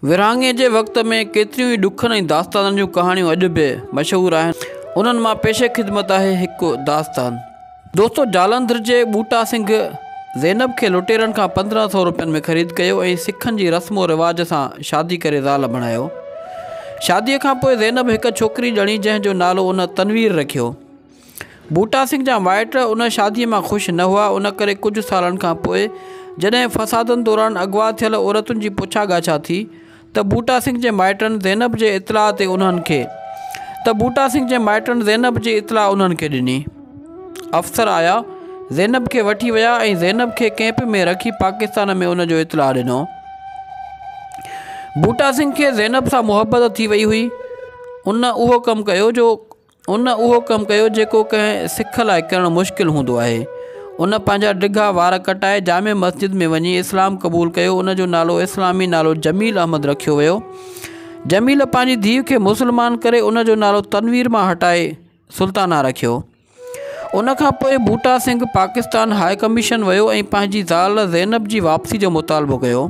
ورهاڱي جي وقت ۾ ڪيتريون ئي ڏکن ۽ داستانن جون ڪهاڻيون اڄ به مشهور آهن، انهن مان پيشه خدمت آهي هڪ داستان. دوستو جالنڌر جي ٻوٽا سنگهه زينب کي لٽيرن کان پندرهن سئو روپين ۾ خريد ڪيو ۽ سکن جي رسم و رواج سان شادي ڪري زال بڻايو. شاديء کان پوء زينب هڪ ڇوڪري ڄڻي جنهن جو نالو ان تنوير رکيو. بوٽا سنگهه جا مائٽ ان شاديء مان خوش نه هئا، ان ڪري ڪجهه سالن کان پوء جڏهن فسادن دوران اغوا ٿيل عورتن جي پڇا ڳاڇا ٿي ته بوٽا سنگهه جي مائٽن زينب جي اطلاع تي انهن کي ته بوٽا سنگهه جي مائٽن زينب جي اطلاع انهن کي ڏني. افسر آيا، زينب کي وٺي ويا ۽ زينب کي ڪئمپ ۾ رکي پاڪستان ۾ ان جو اطلاع ڏنو. بوٽا سنگهه کي زينب سان محبت ٿي وئي هئي، ان اهو ڪم ڪيو جو ان اهو ڪم ڪيو جيڪو ڪنهن سک لاء ڪرڻ مشڪل هوندو آهي. ان پنهنجا ڊگها وار ڪٽائي جامع مسجد ۾ وڃي اسلام قبول ڪيو ان جو نالو اسلامي نالو جميل احمد رکيو ويو. جميل پنهنجي ڌيء کي مسلمان ڪري ان جو نالو تنوير مان هٽائي سلطانه رکيو. ان کان پوء ڀوٽا سنگهه پاڪستان هاء ڪميشن ويو ۽ پنهنجي زال زينب جي واپسي جو مطالبو ڪيو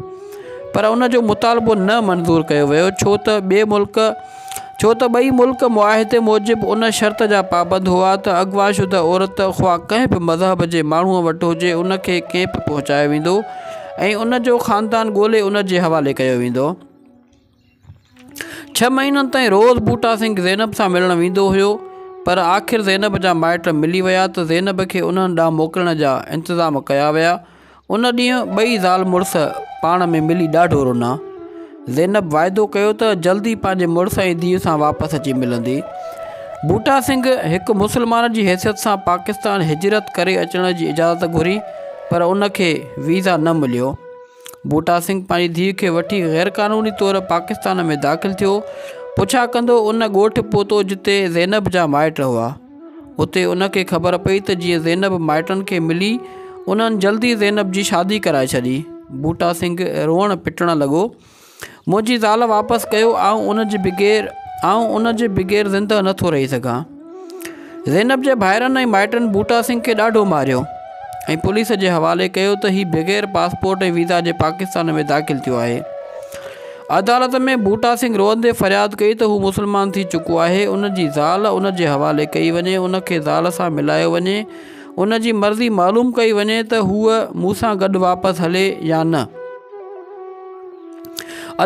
پر ان جو مطالبو نه منظور ڪيو ويو ڇو ته ٻئي ملڪ ڇو ته ٻئي ملڪ معاهدي موجب ان شرط جا پابند هئا ته اغوا شده عورت خواه ڪنهن به مذهب جي ماڻهوء وٽ هجي ان کي ڪئمپ پهچايو ويندو ۽ ان جو خاندان ڳولي ان جي حوالي ڪيو ويندو. ڇهه مهينن تائين روز بوٽا سنگهه زينب سان ملڻ ويندو هيو پر آخر زينب جا مائٽ ملي ويا ته زينب کي انهن ڏانهن موڪلڻ جا انتظام ڪيا ويا. ان ڏينهن ٻئي زال مڙس پاڻ ۾ ملي ڏاڍو رونا. زينب واعدو ڪيو ته جلد ئي پنهنجي مڙس ۽ ڌيء سان واپس اچي ملندي. بوٽا سنگهه هڪ مسلمان جي حيثيت سان پاڪستان هجرت ڪري اچڻ جي اجازت گهري پر ان کي ويزا نه مليو. بوٽا سنگهه پنهنجي ڌيء کي وٺي غيرقانوني طور پاڪستان ۾ داخل ٿيو. پڇا ڪندو ان ڳوٺ پهتو جتي زينب جا مائٽ هئا. اتي ان کي خبر پئي ته جيئن زينب مائٽن کي ملي، انهن جلدي زينب جي شادي ڪرائي ڇڏي. بوٽا سنگهه روئڻ پٽڻ لڳو. منهنجي زال واپس ڪيو، آئون ان جي بغير آئون ان جي بغير زندهه نه ٿو رهي سگهان. زينب جي ڀائرن ۽ مائٽن بوٽا سنگهه کي ڏاڍو ماريو ۽ پوليس جي حوالي ڪيو ته هي بغير پاسپورٽ ۽ ويزا جي پاڪستان ۾ داخل ٿيو آهي. عدالت ۾ بوٽا سنگهه روئندي فرياد ڪئي ته هو مسلمان ٿي چڪو آهي، ان جي زال ان جي حوالي ڪئي وڃي، ان کي زال سان ملايو وڃي، ان جي مرضي معلوم ڪئي وڃي ته هوء مون سان گڏ واپس هلي يا نه.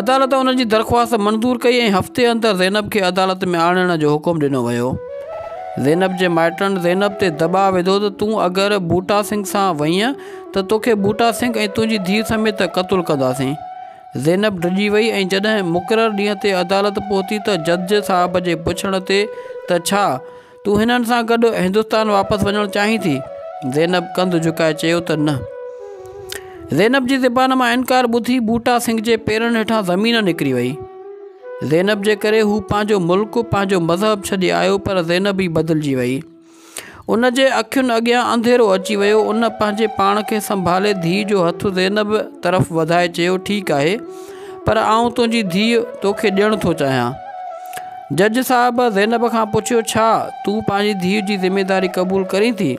عدالت ان جي درخواست منظور ڪئي ۽ هفتي اندر زينب کي عدالت ۾ آڻڻ جو حڪم ڏنو ويو. زينب جي مائٽن زينب تي دٻاء وڌو ته تون اگر بوٽا سنگهه سان وئينء ته توکي بوٽا سنگهه ۽ تنهنجي ڌيء سميت قتل ڪنداسين. زينب ڊڄي وئي ۽ جڏهن مقرر ڏينهن تي عدالت پهتي ته جج صاحب جي پڇڻ تي ته ڇا تون هنن سان گڏ هندستان واپس وڃڻ چاهين ٿي؟ زينب ڪنڌ جهڪائي چيو ته نه. زينب جي زبان مان انڪار ٻڌي بوٽا سنگهه جي پيرن هيٺان زمين نڪري وئي. زينب جي ڪري هو پنهنجو ملڪ، پنهنجو مذهب ڇڏي آيو پر زينب ئي بدلجي وئي. ان جي اکين اڳيان انڌيرو اچي ويو. ان پنهنجي پاڻ کي سنڀالي ڌيء جو هٿ زينب طرف وڌائي چيو، ٺيڪ آهي، پر آئون تنهنجي ڌيء توکي ڏيڻ ٿو چاهيان. جج صاحب زينب کان پڇيو، ڇا تون پنهنجي ڌيء جي ذميداري قبول ڪرين ٿي؟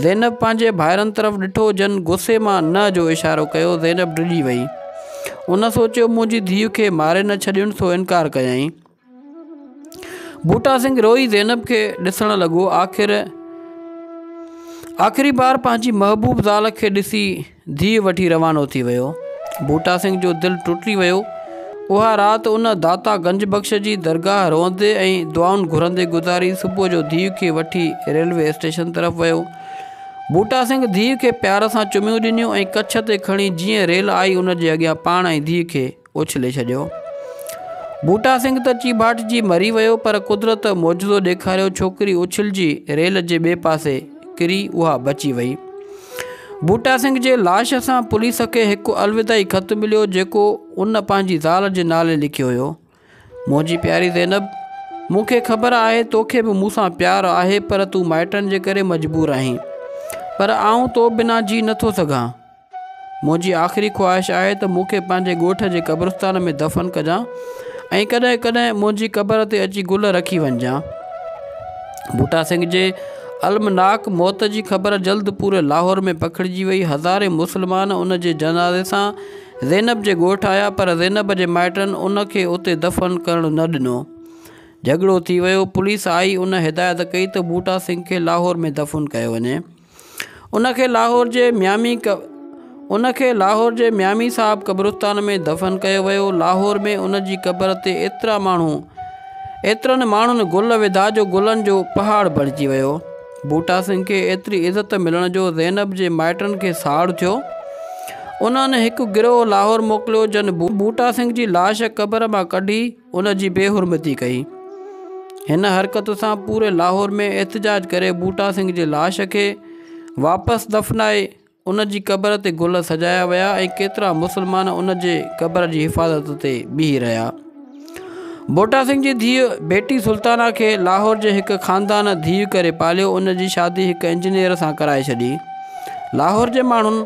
زينب پنهنجي ڀائرن طرف ڏٺو، جن غصي مان نه جو اشارو ڪيو. زينب ڊڄي ويئي. ان سوچيو، منهنجي ڌيء کي ماري نه ڇڏينس سو انڪار ڪيائين. بوٽا سنگهه روئي زينب کي ڏسڻ لڳو. آخر آخري بار پنهنجي محبوب زال کي ڏسي ڌيء وٺي روانو ٿي ويو. بوٽا سنگهه جو دل ٽٽي ويو. اها رات ان داتا گنج بخش جي درگاهه روئندي ۽ دعائن گهرندي گذاري. صبح جو ڌيء کي وٺي ريلوي اسٽيشن طرف ويو. بوٽا سنگهه ڌيء کي پيار سان چميون ڏنيون ۽ ڪڇ تي کڻي جيئن ريل آئي ان جي اڳيان پاڻ ۽ ڌيء کي اڇلي ڇڏيو. بوٽا سنگهه ته چيڀاٽجي مري ويو پر قدرت معجزو ڏيکاريو ڇوڪري اڇلجي ريل جي ٻئي پاسي ڪري اها بچي وئي. بوٽا سنگهه جي لاش سان پوليس کي هڪ الوداعي خط مليو جيڪو ان پنهنجي زال جي نالي لکيو هيو. منهنجي پياري زينب مون کي خبر آهي توکي به مون سان پيار آهي پر تون مائٽن جي ڪري مجبور آهين پر آئون تو بنا جي نٿو سگهان. منهنجي آخري خواهش آهي ته مون کي پنهنجي ڳوٺ جي قبرستان ۾ دفن ڪجان ۽ ڪڏهن ڪڏهن منهنجي قبر تي اچي گل رکي وڃجان. بوٽا سنگهه جي المناڪ موت جي خبر جلد پوري لاهور ۾ پکڙجي وئي. هزارين مسلمان ان جي جنازي سان زينب جي ڳوٺ آيا پر زينب جي مائٽن ان کي اتي دفن ڪرڻ نه ڏنو. جهڳڙو ٿي ويو. پوليس آئي ان هدايت ڪئي ته بوٽا سنگهه کي لاهور ۾ دفن ڪيو وڃي. ان کي لاهور جي ميامي ان کي لاهور جي ميامي صاحب قبرستان ۾ دفن ڪيو ويو. لاهور ۾ ان جي قبر تي ايترا ماڻهو ايترن ماڻهن گل وڌا جو گلن جو پهاڙ بڻجي ويو. ڀوٽا سنگهه کي ايتري عزت ملڻ جو زينب جي مائٽن کي ساڙ ٿيو. انهن هڪ گروهه لاهور موڪليو جن ڀوٽا سنگهه جي لاش قبر مان ڪڍي. ان جي بي حرمتي ڪئي. هن حرڪت سان پوري لاهور ۾ احتجاج ڪري ٻوٽا سنگهه جي لاش کي واپس دفنائي ان جي قبر تي گل سجايا ويا ۽ ڪيترا مسلمان ان جي قبر جي حفاظت تي بيهي رهيا. ٻوٽا سنگهه جي ڌيء بيٽي سلطانه کي لاهور جي هڪ خاندان ڌيء ڪري پاليو ان جي شادي هڪ انجنيئر سان ڪرائي ڇڏي. لاهور جي ماڻهن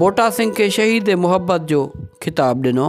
ٻوٽا سنگهه کي شهيد محبت جو خطاب ڏنو.